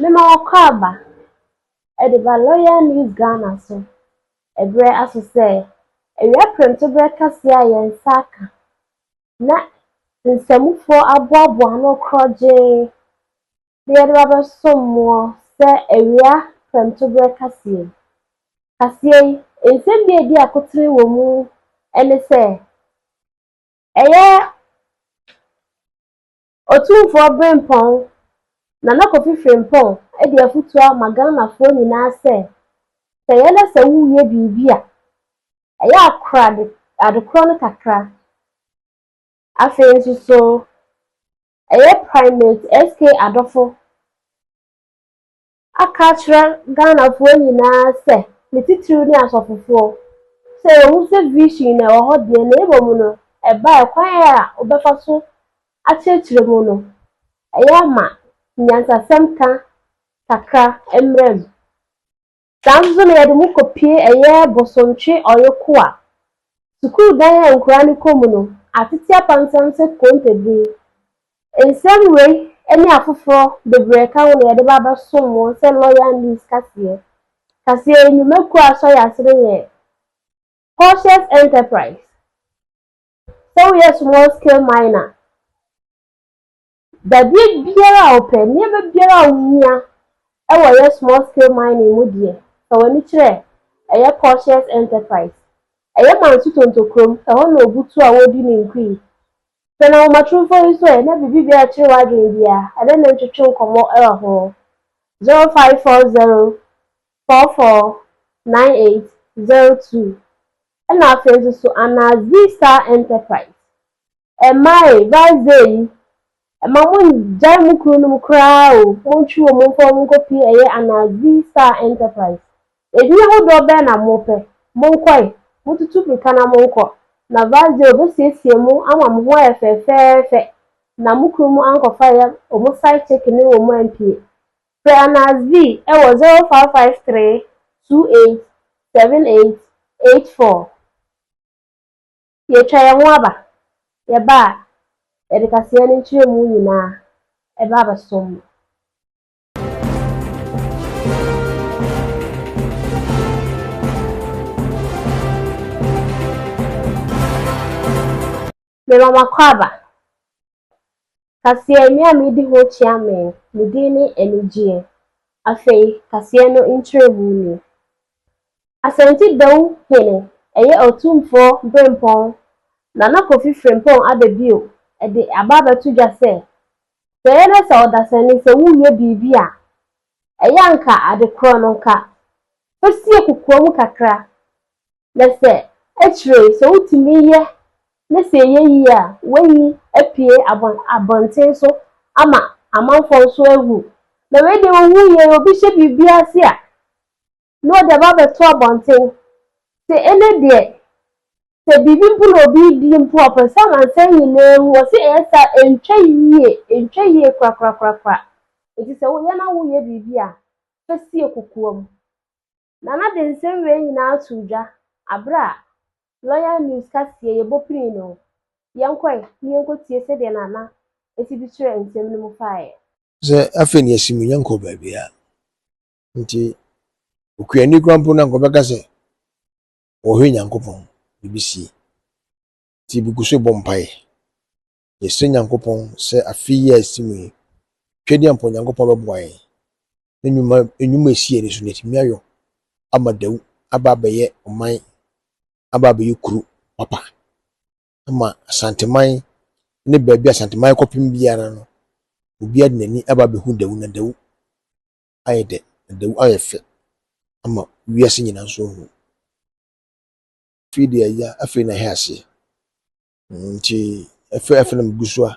Mema wɔkɔ aba de ba Loyal News Ghana so berɛ aso sɛ awia prɛmtoberɛ kɛseɛ a yɛn nsa aka na nsamufoɔ aboaboa ano korɔgyee na yɛde ba bɛsom moɔ sɛ awia prɛmtoberɛ kaseɛ yi. Kaseɛ yi, nsɛm bi a ɛdi akotene wɔ mu ne sɛ, ɛyɛ Otumfoɔ Brempɔn, Nana Kofi Frimpong de afotuo ama Ghanafoɔ nyinaa sɛ, sɛ ɛyɛ na sɛ woyɛ biribi a, ɛyɛ a kora ade adekorɔ no kakra. Afei nso so, ɛyɛ Primate SK Adofo aka akyerɛ Ghanafoɔ nyinaa sɛ, ne titiriw ne asɔfofoɔ, sɛ yɛhu sɛ vision no ɛwɔ hɔ deɛ na mmom no ɛbaeɛ kwan a wobɛfa so akyerɛkyerɛ mu no, ɛyɛ a ma nyansasɛm ka kakra mmra mu. Saa ara nso na yɛde mo kɔpue ɛyɛ Bosontwe Ɔyokoa sukuu dan a nkuraa no kɔ mu no, Atete Apansam sɛ Kontabire Nsɛm wei ne afoforɔ bebree ka ho na yɛde ba abɛsom mo sɛ Loyal News kaseɛ. Kaseɛ yi nnwumakuo a asɔ yɛn ase no yɛ Cautious Enterprise. Sɛ woyɛ small scale miner, dadeɛ biara a wopɛ, nneɛma biara a wohia wɔ yɛ small scale mining mu deɛ, fa w'ani kyerɛ ɛyɛ Cautious Enterprise. Ɛyɛ Manso Tonto kurom, ɛhɔ na Obutu a wɔredi ne nkui Sɛ na nwomatorofo yi so ɛ na biribi bi akyere w'adwene bi a, ɛdɛn na ntwetwe nkɔmmɔ wɔ ho? 0540 44 9802 Ɛna afei nso so ana Z-Star Enterprise ɛmmae Vazee yi ɛma mo ngyae mo kunu nom koraa o, montwe wɔn mfa wɔn nkɔpie ɛyɛ ana Z-Star Enterprise Edin ahodoɔ bɛn na mopɛ? Monkɔ e! Motutu mmirika na monkɔ, na Varzeo bɛsiesie mo ama mo ho ayɛ fɛɛfɛɛfɛ na mo kunu mu ankɔfa yɛ wɔn side chick ne wɔn ampie. Frɛ Anas V wɔ 0553 28 78 84. Yɛatwa yɛn ho aba, yɛba a, yɛde kaseɛ ne nkyerɛmu nyinaa ba abɛsom mo. Mema mo akwaaba. Kaseɛ me a medi ho kyea me, me din ne Anigyeɛ. Afei kaseɛ no nkyerɛmu nie. Asante Dawu Hene ɛyɛ Otumfoɔ Berempɔn Nana Kofi Frimpong aba bio de aba abɛto dwa sɛ Sɛ ɛyɛ na sɛ ɔdasani sɛ woreyɛ biribi a, ɛyɛ a nka ade korɔ no nka fa sie kokoa mu kakra na sɛ akyire yi sɛ wotumi yɛ na sɛ ɛyɛ yie a woayi apue abɔnten so ama amanfoɔ nso ahu. Na wei deɛ wohu yie no obi hyɛ biribi ase a na ɔde aba abɛto abɔnten. Sɛ ɛnnɛ deɛ, sɛ biribi mpo na obi redi mpo a, ɔpɛ sɛ amansan nyinaa hu. Wɔse ɛyɛ saa a, ɛntwa yie, ɛntwa yie korakorakorakora. Enti sɛ woyɛ na woreyɛ biribi a, fa sie kokoam. Nana de nsɛm wei nyinaa too dwa berɛ a Loyal News kaseɛ Yɛbɔ Pirii no. Yɛnkɔ ɛ na yɛnkɔtie sɛdeɛ Nana si bi kyerɛ nsɛm no mu faeɛ. Sɛ afei na yɛasi mu, yɛnkɔ baabiara. Nti okuani koraa mpo no anka ɔbɛka sɛ ɔhwɛ Nyankopɔn biribi sie. Nti bi gu so bɔ mpaeɛ. Yɛsrɛ Nyankopɔn sɛ afe yi a ɛsi mu yi, twɛdeɛ mpo Nyankopɔn bɛboa yɛn na nnwuma nnwuma a ɛsi yɛn ani so no yɛatumi ayɔ ama Dawu aba abɛyɛ ɔman aba abɛyɛ kuro papa ama Asanteman ne baabi a Asanteman kɔpem biara no obiara de n'ani aba abɛhu Dawu na Dawu ayɛ dɛ, ɛda mu ayɛ fɛ ama wiase nyina so ehu. Afei deɛ ya, afei na ɛyɛ aseɛ. Nti afei afei na megu so a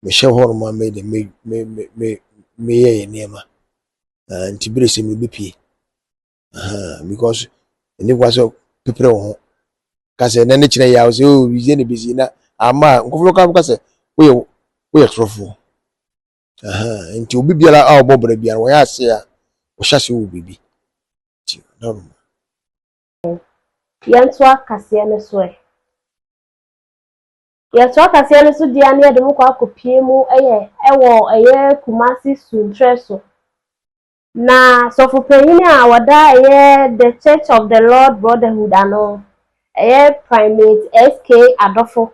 mehyɛ hɔ nom a meyɛ dɛ me me me me meyɛ yɛ nneɛma. Uh, nti bere sɛ mebɛpie. Uh, because ɛne kwa sɛ pepere wo ho. Ka sɛ na ne kyerɛ yɛ a wo sɛ o oh, bizie na bɛsi na ama a nkɔfoɔ ka ka sɛ woyɛ woyɛ torɔfoɔ. Ɛhɛn, nti obi biara a ɔbɔ bra biara wɔyɛ ase a wɔhyɛ ase wɔ biribi. Nti na ɔnom. Yɛntoa kaseɛ no so ɛ. Yɛtoa kaseɛ no so deɛ a na yɛde mo kɔ akɔpie mu yɛ wɔ ɛyɛ Kumasi Sunkyerɛ so. Na sɔfo panyin a ɔda ɛyɛ The Church of the Lord Brotherhood ano, ɛyɛ Primate SK Adofo.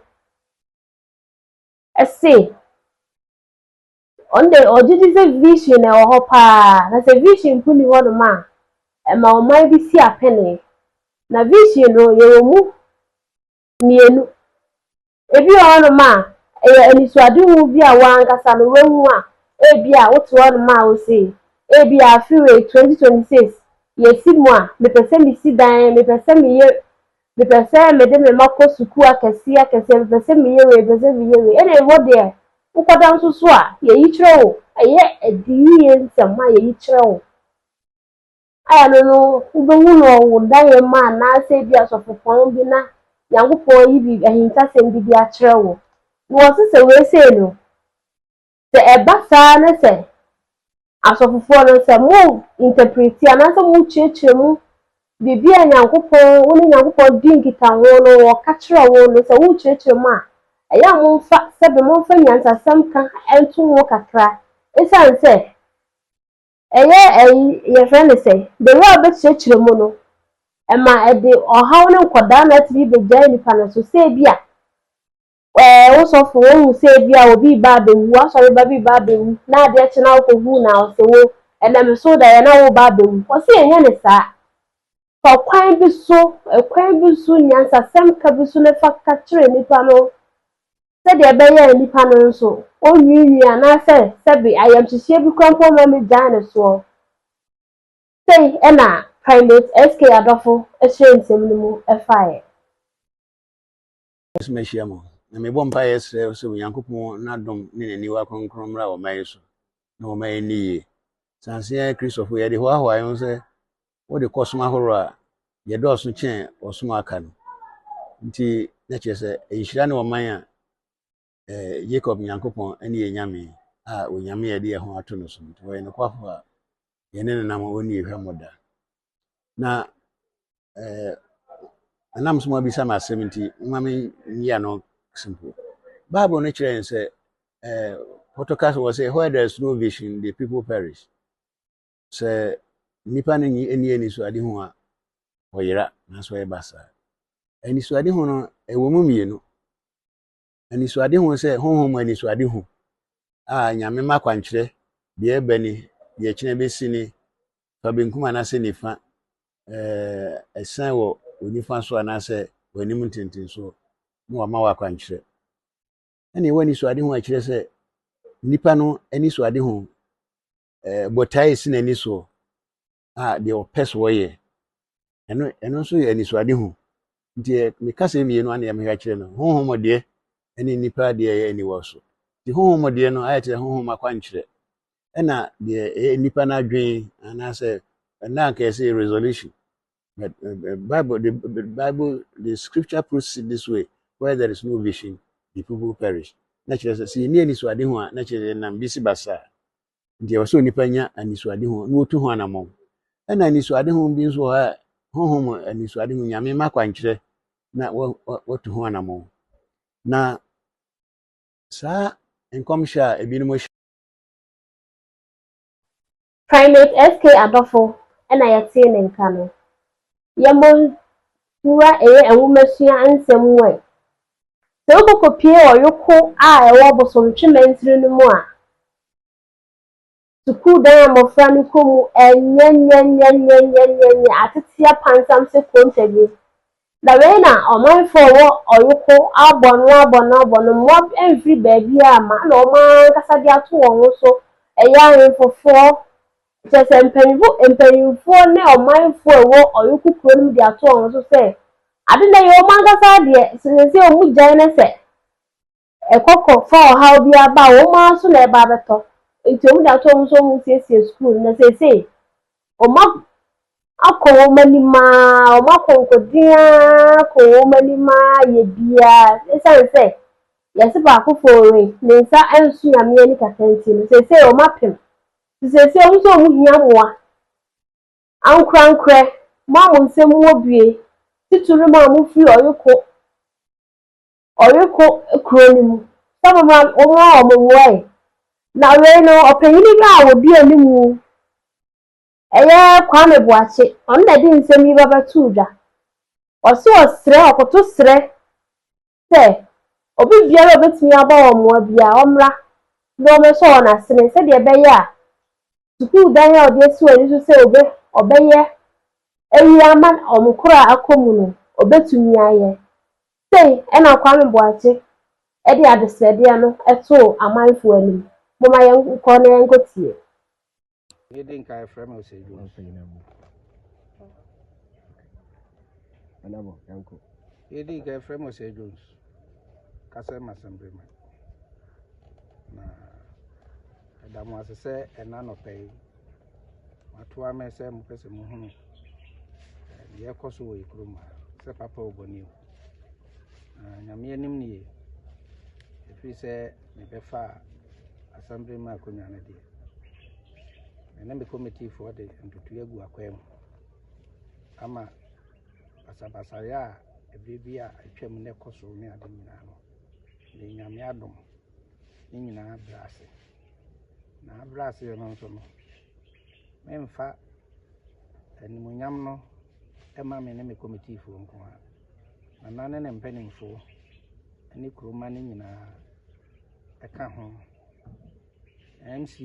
se ɔno deɛ ɔgye di sɛ vision na ɛwɔ hɔ paa na sɛ vision mpo ni hɔ nom a ɛma ɔman bi si apɛnee na vision no yɛwɔ mu mmienu ebi wɔ hɔ nom a ɛyɛ anisoadehu bi a wankasa no wahu a ebi a wote hɔ nom a wose ebi a afewei 2026 yɛsi mu a mepɛ sɛ mesi dan mepɛ sɛ meyɛ Mepɛ sɛ mede me mma kɔ sukuu akɛseɛ akɛseɛ, mepɛ sɛ meyɛ wei, mepɛ sɛ meyɛ wei. Ɛna ɛhɔ deɛ, wokɔda nso so a, yɛyi kyerɛ wo. Ɛyɛ ɛde yie nsɛm a yɛyi kyerɛ wo. Ayɛno no, wobɛhu no wɔ wo daeɛ mu anaasɛ ebi asɔfopɔn bi na Nyankopɔn ayi biribi, ahintasɛm bi de akyerɛ wo. Na wɔse sɛ wei sei no, Sɛ ɛba saa na sɛ asɔfofoɔ no, sɛ mo interpreti anaasɛ mo kyerɛkyerɛ mu biribi a Nyankopɔn, wo ne Nyankopɔn di nkitaho no, ɔka kyerɛ wo no, sɛ wo kyerɛkyerɛ mu a, ɛyɛ a mo mfa, sɛbe mo mfa nyansasɛm ka nto ho kakra, ɛsiane sɛ ɛyɛ ɛyi, yɛfrɛ no sɛ, bere a wobɛkyerɛkyerɛ mu no, ɛma ɛde ɔhaw ne nkɔdaa na atumi bɛgyae nipa no so, sɛ ebi a, Ɛɛ, wo sɔfo, wonhu sɛ ebia obi reba abewu, w'asɔreba bi reba abewu, na adeɛ kye na wokɔ hu no a, ɔse wo, Ɛnam ɛso daeɛ na woreba abewu? Ɔse yɛnyɛ no saa. Fa ɔkwan bi so, ɛkwan bi so, nyansasɛm ka bi so na fa ka kyerɛ nnipa no, sɛdeɛ ɛbɛyɛ a nnipa no nso, ɔnwiinwii anaasɛ sɛbe ayamhyehyeɛ bi koraa mpo mma mɛgyae no soɔ. Sei ɛna Primate SK Adɔfo ɛhyerɛnsɛm no mu ɛfaeɛ. so mahyia mo, na mebɔ mpaeɛ srɛ sɛ Onyankopɔn n'adom ne n'aniwa kronkron mmra ɔman yi so na ɔma ɛnni yie. Sanse yɛn Kristofo, yɛde hoahoa yɛn ho sɛ wode kɔ som ahorow a, yɛdɔɔso kyɛn ɔsom a aka no nti, na kyerɛ sɛ nhyira ne ɔman a eh, Jacob Nyankopɔn ne yɛn Nyame a onyame yɛde yɛn ho ato no so nti wɔyɛ nokwafo a yɛne no nam ɔnni hwɛmmɔ da na eh, ɛnam so ma bisa me asɛm nti mma menyia no simple bible no kyerɛ yɛn sɛ eh, pɔtɔkas wɔ sɛ where there is no vision the people perish sɛ nnipa no nyi ani anisoadehu a wɔyera nanso ɛyɛ basaa anisoadehu no ɛwɔ mu mmienu Anisoadehu sɛ honhom mu anisoadehu a Nyame mma kwankyerɛ deɛ ɛbɛ ne deɛ ɛkyena ɛbɛsi ne fa benkum anaasɛ nifa, eh, ɛsɛn wɔ wɔ nifa so anaasɛ wɔ anim ntentensoɔ na wama wɔ akwankyerɛ. Ɛne ɛwɔ anisoadehu a ɛkyerɛ sɛ nipa no anisoadehu eh, botae si n'ani soɔ a deɛ ɔpɛ so ɔyɛ ɛno ɛno nso yɛ anisoadehu nti meka sɛ mmienu a na yɛmehwɛ akyerɛ no honhom deɛ ɛne nnipa deɛ ɛyɛ aniwa so nti honhom deɛ no ayɛ kyerɛ honhom akwankyerɛ ɛna deɛ ɛyɛ nnipa no adwene anaasɛ ɛna anka yɛsɛ yɛ resolution but uh, uh, bible the, the bible the scripture puts it this way where there is no vision the people perish na kyerɛ sɛ sɛ yɛni anisoadehu a na kyerɛ sɛ yɛnam bi si basaa Nti ɛwɔ sɛ onipa nya anisoadehu na otu ho anammɔn. Ɛna anisoadehu bi nso wɔ hɔ a honhom mu anisoadehu Nyame mma akwankyerɛ na watu ho anammɔn. Na saa nkɔmhyɛ a ebinom hyɛ Primate SK Adofo na yɛtee ne nka no. yɛbonsua yɛ nwomasua nsɛm mu ɛ. Sɛ wobɔkɔpue ɔyoko a ɛwɔ Bosomtwe mansini no mu a, sukuu dan a mmɔfra no kɔ mu nyɛnyɛnyɛnyɛnyɛnyɛnyɛ ateteɛ pansam sɛ konta bi. Na wei na ɔmanfoɔ a wɔwɔ ɔyoko abɔno abɔno abɔno, mmoa mfiri baabiara ma na wɔn ara ankasa de ato wɔn ho so, ɛyɛ ahemfofoɔ, Kyerɛ sɛ, mpanyimfo mpanyimfoɔ ne ɔmanfoɔ a ɛwɔ Ɔyoko kuro no mu de ato wɔn so sɛ, ade no ɛyɛ wɔn ankasa deɛ, sɛ seesei wɔgyae na sɛ ɛkɔkɔ fa ɔhaw biara ba a, wɔn ara so na ɛba abɛtɔ. Nti wɔde ato wɔn so sɛ wɔnsiesie sukuu no, na seesei wɔn akɔ wɔn anim ara, wɔn akɔnkɔden ara kɔ wɔn anim ara yɛ biara. Ɛsiane sɛ yɛse baako fɔɔre, ne nsa nso Nyame ani kata nti no, seesei wɔn apem Nti seesei ɔmo sɛ ɔmo hia mmoa. Ankorankorɛ, mo a mo nsam wɔ bue, titiriw mo a mo firi Ɔyoko, Ɔyoko kuro no mu, sɛ mo mmra mo mmoa wɔn mmoa ɛ. Na wei no ɔpanyini bi a wɔdi animu ɛyɛ Kwame Boakye, ɔno na ɛde nsɛm yi ba bɛtoo dwa. Ɔse ɔsrɛ, ɔkoto srɛ sɛ obi biara a obetumi abɔ wɔn mmoa biara, ɔmmra na wɔmmɛsɔ wɔn asene sɛdeɛ ɛbɛyɛ a sukuu dan a wɔde asi wɔn ani so sɛ wɔbɛ, wɔbɛyɛ ayi ama wɔn koro a akɔ mu no, wɔbɛtumi ayɛ. Sei na Kwame Boakye de adesrɛdeɛ no too amanfoɔ anim. Momma yɛnkɔ na yɛnkɔtie. Yɛ di nka ɛfrɛ mi ose ju. Ɔsɛ yi na mu. Anabo ɛnko. Yɛ di nka ɛfrɛ mi ose Jones. Kasɛ ma sɛmbere ma. Na ɛda mo ase sɛ ɛna nɔpɛ yi. Wato amɛ sɛ mo pɛ sɛ mo hunu. Yɛ kɔ so wɔ yɛ kurom ha. Sɛ papa obɔni o. Na Nyame anim no ye, ɛfiri sɛ mebɛfaa Asamblea mu akonnwa no deɛ, me ne me komitifoɔ de ntotoeɛ agu akwaa mu ama basabasayɛ a ɛberɛ bi a atwam na ɛkɔ so ne ade nyinaa no, de Nyame adom ne nyinaa brɛ ase. Na abrɛ ase no nso no, memfa animuonyam no ɛma me ne me komitifoɔ nko ara. Nana ne ne mpanimfoɔ ne kuromma no nyinaa ka ho. MC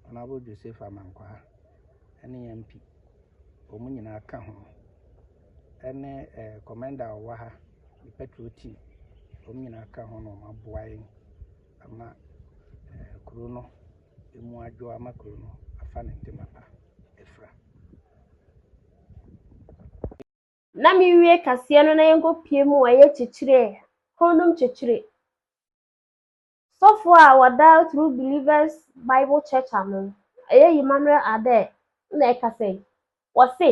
Honourable Joseph Amankwaa ne MP, wɔn nyinaa ka ho ne eh, kɔmɛnda a ɔwɔ ha, ne patrol team, wɔn nyinaa ka ho na wɔaboa yɛn ama eh, kuro no emu adwo ama kuro no afa ne ntoma pa afira. na mewie kaseɛ no na yɛnkɔpie mu ayɛ kyekyerɛ honum kyekyere sɔfo a wɔda through believers bible church ano ɛyɛ emmanuel adɛ na ɛka sɛ wɔse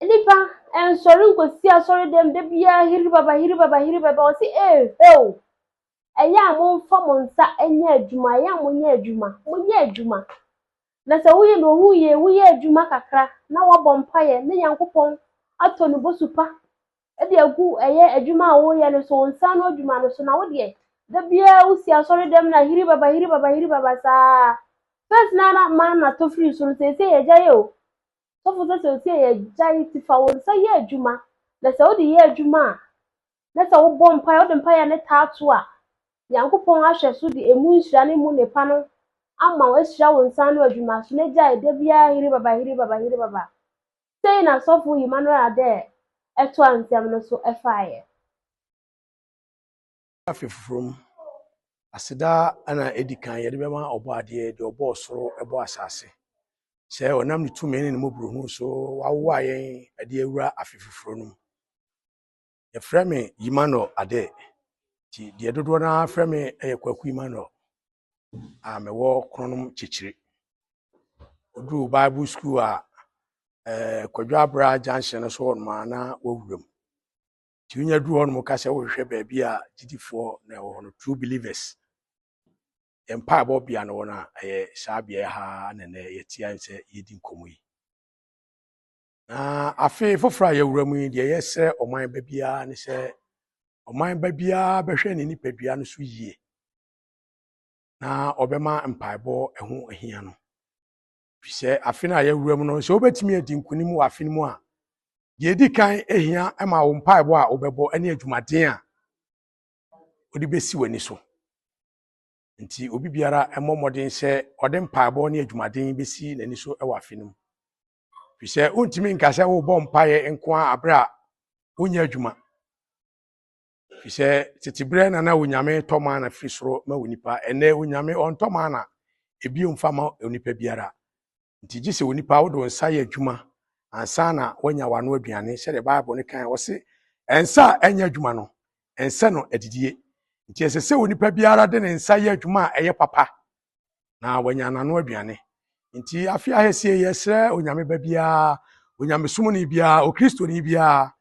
nipa ɛnsɔre nkɔsi asɔre dɛm da biara hiri baba hiri baba hiri baba ɔse ee heo ɛyɛ a momfa mo nsa nyɛ adwuma ɛyɛ a monyɛ adwuma monyɛ adwuma Na sɛ woyɛ no ohuu yie, woyɛ adwuma kakra na woabɔ mpaeɛ ne Nyankopɔn atɔ ne bosu pa de agu ɛyɛ adwuma a woyɛ no so, wo nsa ano adwuma no so, na wo deɛ, da biara wosi asɔredɛm na hiribaba hiribaba hiribaba saa. First na na manna tɔ firi soro, seesei yɛagyae o. Sɔfo sɛ sɛ ɔsi yɛagyae nti fa wo nsa yɛ adwuma, na sɛ wode yɛ adwuma a, na sɛ wobɔ mpaeɛ, wode mpaeɛ no taa to a, Nyankopɔn ahwɛ so de emu nhyira ne mu nnepa no ama wo, ahyira wo nsa ano adwuma so, na gyae da biara hiri baba, hiri baba, hiri baba. Sei na sɔfo Emmanuel Adair ɛtoa nsɛm no so ɛfaeɛ. Afe foforɔ mu, aseda na edi kan yɛde bɛma Ɔbɔadeɛ, deɛ ɔbɔɔ ɔsoro bɔɔ asase, sɛ ɔnam ne tumi ne ne mmɔborɔhunu so wawowa yɛn de awura afe foforɔ no mu. Yɛfrɛ me Emmanuel Ade. Nti deɛ dodoɔ no ara frɛ me yɛ Kwaku Emmanuel a mewɔ Kronom Kyekyere. Woduruu Bible School a eh, Kwadwo Abra Junction no so hɔ nom a na wɔwura mu. Nti wonya duru hɔ nom ka sɛ wohwehwɛ baabi a gyidifoɔ na ɛwɔ hɔ no, true believers. Yɛn mpaebɔ bea no wɔ no a ɛyɛ saa beaeɛ ha na nnɛ yɛte a sɛ yɛdi nkɔmmɔ yi. Na afe foforɔ a yɛwura mu yi deɛ yɛsrɛ ɔman ba biara ne sɛ ɔman ba biara bɛhwɛ ne nipadua no so yie na ɔbɛma mpaebɔ ɛho ahia no fi sɛ afe no a yɛwura mu no sɛ wobɛtumi adi nkonim wɔ afe no mu a deɛ ɛdi kan ahia ma wo mpaebɔ a wobɛbɔ ne adwumaden a wode bɛsi w'ani so nti obi biara mmɔ mmɔden sɛ ɔde mpaebɔ ne adwumaden bɛsi n'ani so wɔ afe no mu Efisɛ wontumi nka sɛ wobɔ mpaeɛ nko ara berɛ a wonyɛ adwuma. Efisɛ tete berɛ na na Onyame tɔ mana firi soro ma onipa. Ɛnnɛ Onyame ɔntɔ mana ebio mfa ma onipa biara. Nti gye sɛ onipa wode wo nsa yɛ adwuma ansa na woanya w'ano aduane sɛdeɛ Bible no kan ɔse ɛnsa a ɛnyɛ adwuma no ɛnsɛ no adidie. Nti ɛsɛ sɛ onipa biara de ne nsa yɛ adwuma a ɛyɛ papa na wanya n'ano aduane. Nti afe ahasie yɛsrɛ onyame ba biara, onyamesomni biara, okristoni biara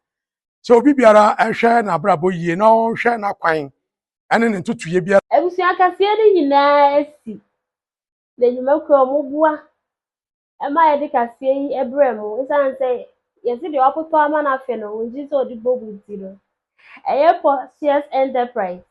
sɛ obi biara ɛhwɛ n'abrabɔ yie na ɔnhwɛ n'akwan ɛne ne ntotoyɛ biara. Abusua kaseɛ no nyinaa asi n'adwumakuo a wɔboa ma yɛde kaseɛ yi brɛ mo ɛsiane sɛ yɛse deɛ wɔakoto ama no afe no wɔngye sɛ ɔde bɔ mu nti no ɛyɛ Portius Enterprise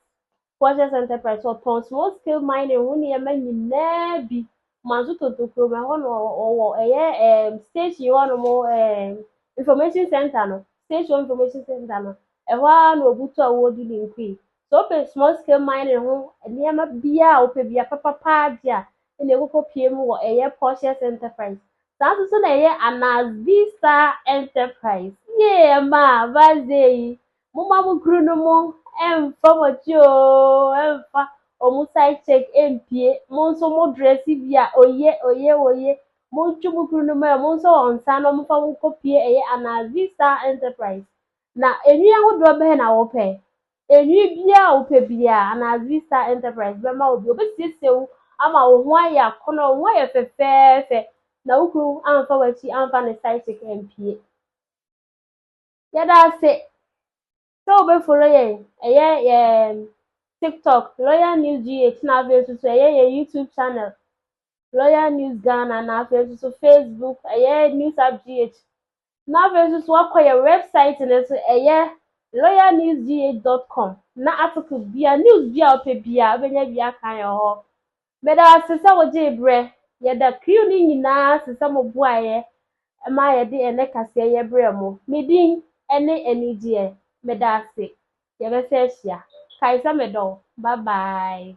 Portius Enterprise wɔtɔn small scale mining ho nneɛma nyinaa bi manso tonto kurom ɛhɔ no ɔwɔ ɛyɛ ɛɛm station hɔ nom ɛɛm information center no station information center no ɛhɔ ara na ɔbutu a wɔdi ne nkui Sɛ wopɛ small scale mining ho nneɛma biara a wopɛ bia papapa deɛ a, ɛna ɛkɔkɔ pie mu wɔ ɛyɛ Portius Enterprise. Saa nso so na ɛyɛ Anas Vista Enterprise. Yee ɛma Vaze yi, moma mo kuru no mo ɛmfa mo akyi oo, ɛmfa ɔmo side check ɛmpie. Mo nso mo dresse bi a, oye, oye, oye. Montwo mo kuru no mo ɛ, mo nso wɔn nsa na ɔmfa mo kɔ pie ɛyɛ Anas Vista Enterprise. Na nhwi ahodoɔ bɛn na wopɛ? Nhwi biara a wopɛ biara, anaa Zistar Enterprise bɛma wo bi. Wɔbɛsiesie wo ama wo ho ayɛ akɔnnɔ, wo ho ayɛ fɛfɛɛfɛ, na wo kunu amfa w'akyi amfa ne side chick ampue. Yɛda ase sɛ wobɛfollow yɛn, ɛyɛ yɛn TikTok, Loyal News GH, na afei nso so ɛyɛ yɛn YouTube channel, Loyal News Ghana, na afei nso so Facebook, ɛyɛ News Up GH. Na afei nso so wakɔ yɛ wɛbsaet no so, ɛyɛ loyalnewsgh.com na article bia, news bia ɔpɛ bia ɔbɛnya bi aka yɛn hɔ. Meda wo ase sɛ wogyee berɛ. Yɛda crew no nyinaa ase sɛ mo boaeɛ ma yɛde ɛnɛ kaseɛ yɛ brɛɛ mo. Me din ne Anigyeɛ. Meda ase. Yɛbɛsan ahyia. Kae sɛ medɔ wo. Bye bye.